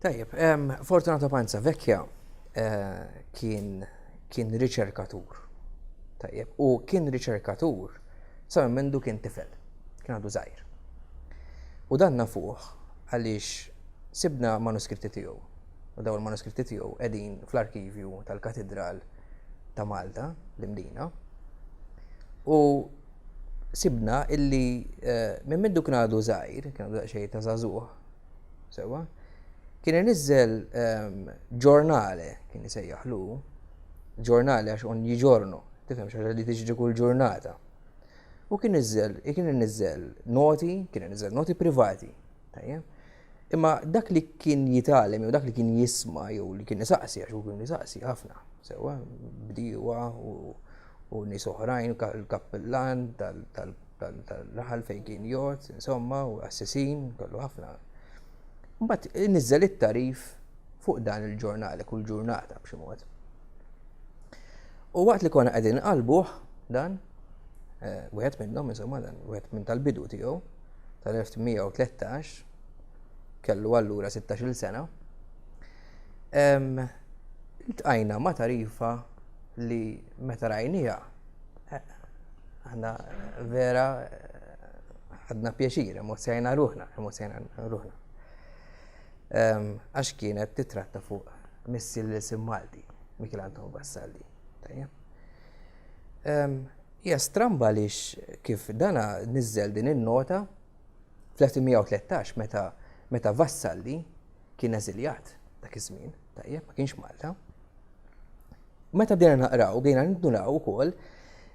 Tajjeb, Fortunato Panza Vecchia kien kien riċerkatur. Tajjeb, u kien riċerkatur sa minn mindu kien tifel, kien għadu żgħir. U dan nafuh għaliex sibna manuskritti tiegħu. U daw il-manuskritti tiegħu qegħdin fl-arkivju tal-Katidral ta' Malta, l-Imdina. U sibna illi eh, minn mindu kien għadu zaħir, kien għadu xej ta' zazuħ, Sewwa? Kien iniżżel ġornale, kien isejjaħlu, ġornale għax ogni ġorno, tifhem xi ħaġa li tiġri kull ġurnata. U kien iżżel, kien iniżżel noti, kien iniżżel noti privati. Tajjeb? Imma dak li kien jitalem, jew dak li kien jisma, jew li kien isaqsi, għax u kien isaqsi ħafna, sewa, bdiwa u nis oħrajn, il-kappellan tal-raħal fejn kien jgħod, insomma, u assisin, kellu ħafna. Mbagħad niżel it-tarif fuq dan il-ġurnal, li kull ġurnata b'xi mod. U waqt li konna qegħdin qalbuh dan, eh, wieħed minnhom insomma dan, wieħed minn tal-bidu tiegħu tal-1913 kellu allura 16-il sena. Iltqajna ma' tarifa li meta rajnija Għanna vera għadna pjaċir, emozzjajna ruħna, emozzjajna ruħna. Ehm, għax kienet titratta fuq missi l-isim Malti, Mikil Anton Vassalli. Tajja. Ehm, hija stramba li kif dana nizzel din in-nota fl-1913 meta meta Vassalli Kien eżiljat dak iż-żmien, tajjeb, ma kienx Malta. Meta bdejna naqraw, bdejna nindunaw ukoll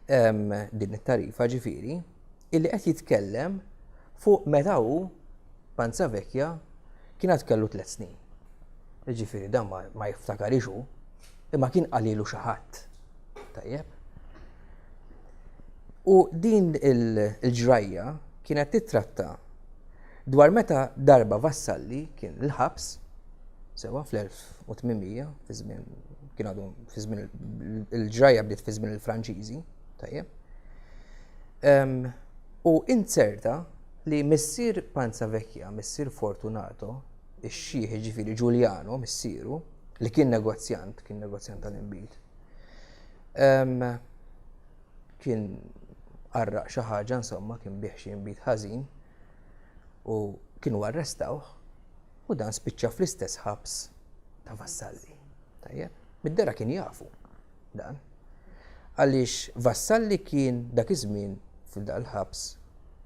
ehm, din it-tarifa ġifieri, illi qed jitkellem fuq meta hu Panza Vekja kien għad kellu tliet snin. Ġifieri dan ma jiftakarix hu, imma kien qalilu xi ħadd. Tajjeb. U din il-ġrajja kienet titratta Dwar meta darba Vassalli kien il-ħabs, sewwa fl-1800, fi żmien kien għadu fi żmien il-ġrajja bdiet fi żmien il-Franċiżi, tajjeb. U inzerta li missier Panza Vecchia, missier Fortunato, ix-xieħ ġifiri Giuliano, missieru, li kien negozjant, kien negozjant tal-inbid. Kien qarraq xi ħaġa, insomma, kien bieħ xi inbid ħażin. u kienu arrestawh u dan spiċċa fl-istess ħabs ta' Vassalli. Tajjeb, mid-dera kien jafu dan. Għaliex Vassalli kien dak iż-żmien f'dan ħabs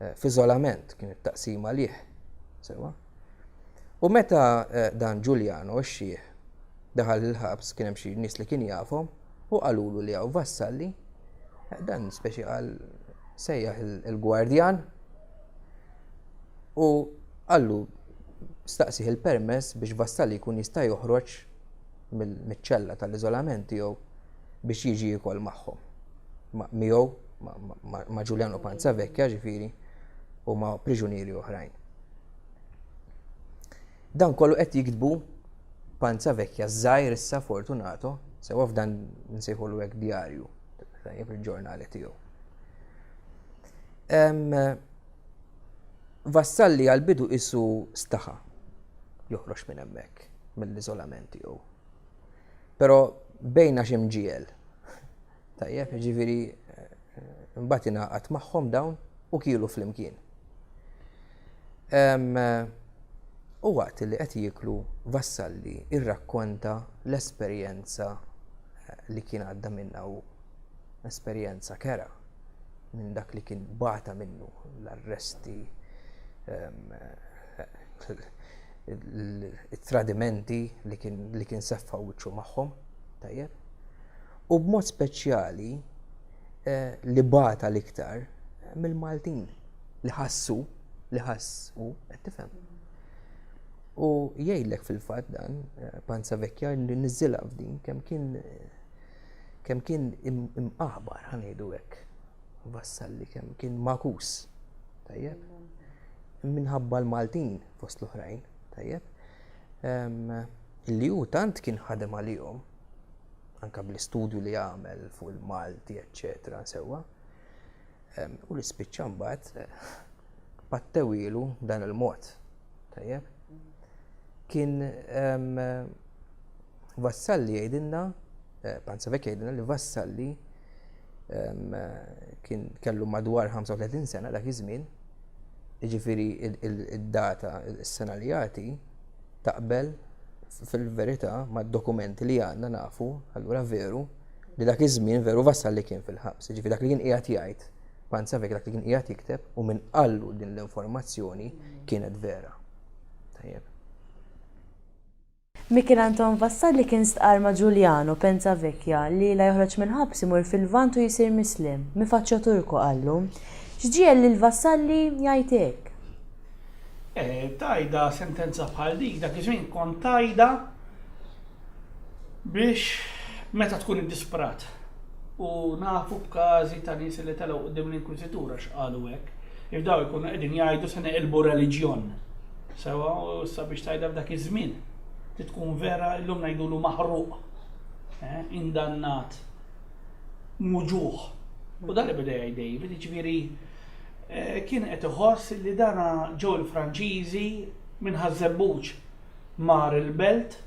eh, f'iżolament kien it-taqsim għalih. Sewa. U meta eh, dan Giuliano xxieħ daħal il-ħabs kien hemm xi nies li kien jafhom U qalulu li hawn vassalli, dan speċi qal sejjaħ il-gwardjan u qallu staqsih il-permess biex vassalli jkun jista' joħroġ mill-ċella tal-iżolament tiegħu biex jiġi jikol magħhom. Miegħu ma' Giuliano Panzavecchia ġifieri u ma' priġunieri oħrajn. Dan kollu qed jiktbu panza vekja żgħir issa Fortunato, sewwa f'dan nsejħulu hekk djarju, tajjeb il-ġurnali tiegħu. Vassalli għal-bidu isu staħa joħroġ minn hemmhekk mill-iżolament tiegħu. Però bejna xi mġiel Tajjeb, jiġifieri mbagħad ingħaqad magħhom dawn u kielu flimkien. U waqt li qed jieklu Vassalli irrakkonta l-esperjenza li kien għadda minnha u esperjenza kera minn dak li kien bata minnu l-arresti it-tradimenti li kien seffa wiċċu magħhom, tajjeb. u b'mod speċjali li bata l-iktar mill-Maltin li ħassu li ħassu qed tifhem. U jgħidlek fil-fatt dan Panza Vekja li niżilha f'din kemm kien kemm kien imqaħbar ħanejdu hekk. Vassalli kemm kien makus. Tajjeb. Minħabba l-Maltin fost l-oħrajn, tajjeb. Li hu tant kien ħadem għalihom anke bl-istudju li għamel fuq il-Malti, eċċetera, sewwa. U li spiċċa mbagħad pattewilu dan il-mod. Tajjeb? Kien Vassalli jgħidilna, eh, Panzavek jgħidilna li Vassalli kien kellu madwar 35 sena dak iż-żmien, jiġifieri id-data, is-sena li jagħti, Taqbel, fil-verità, mad-dokumenti li għandna nafu, allura veru, li dak iż-żmien veru Vassal li kien fil-ħabs, jiġifieri dak li kien qiegħed jgħid, Panzavek dak li kien qiegħed jikteb u min qallu din l-informazzjoni kienet vera. Tajjeb. Michel Anton Vassal li kien stqarr ma' Giuliano, Penza Vecchia, li la joħroġ mill-ħabs imur fil-Lvant u jsir Mislem, mi faccio turco, qallu. X'ġiegħel lil Vassalli jgħid hekk? Tajda sentenza bħal dik dak iż-żmien kont tajda biex meta tkun iddisperat. U nafu b'każi ta' nies li telgħu quddiem l-inkwiżitur għax qalu hekk. If daw ikunu qegħdin jgħidu se neqilbu reliġjon. Sewa u issa biex tajda f'dak iż-żmien. Titkun vera illum ngħidulu maħruq. Eh, indannat. Muġuħ. U dan li beda jgħid David, ġifieri kien qed iħoss li dana ġew il-Franċiżi minn Ħaż-Żebbuġ mar il-Belt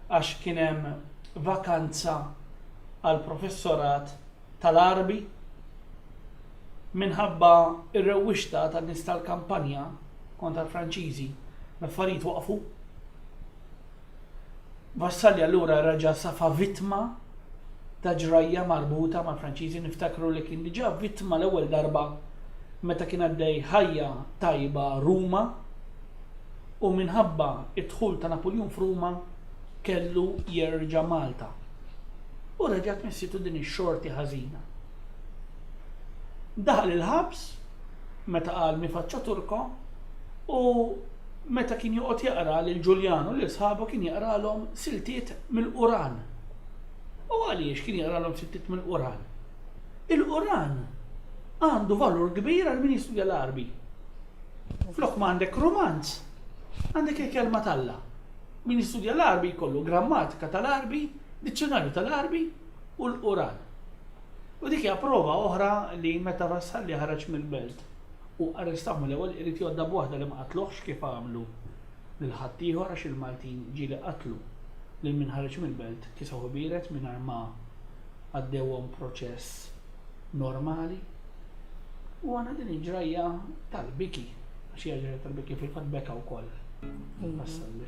għax kien hemm vakanza għall-professorat tal-Għarbi. Minħabba r-rewwixta tan-nies tal-kampanja kontra l-Franċiżi l-affarijiet waqfu. Vassalli allura reġa' safa vittma ta' ġrajja marbuta mal-Franċiżi, niftakru li kien diġà vittma l-ewwel darba meta kien għaddej ħajja tajba Ruma u minħabba d-dħul ta' Napuljun f'Ruma kellu jerġa' Malta u reġgħet missietu din ix-xorti ħażina. Daħal il-ħabs meta qal mi faccia turco u meta kien joqgħod jaqra lil Ġuljan u lil sħabu kien jaqralhom siltiet mill-Quran. U għaliex kien jaqralhom siltiet mill-Quran? Il-Quran għandu valur kbir għal min jistudja l-Arbi. Flok ma għandek romanz, għandek il-kelma talla. Min jistudja l-Arbi jkollu grammatika tal-Arbi, dizzjonarju tal-Arbi u l-Quran. U dik hija prova oħra li meta Vassalli ħareġ mill-belt u arrestaw mill-ewwel irid jgħoddha b'waħda li ma qatluhx kif għamlu lil ħaddieħor għax il-Maltin ġieli qatlu lil min ħareġ mill-belt kisawh ibiered mingħajr ma għaddewhom proċess normali. U għandna din il-ġrajja tal-biki għax hija ġrajja tal-biki fil-fatt beka wkoll. Vassalli.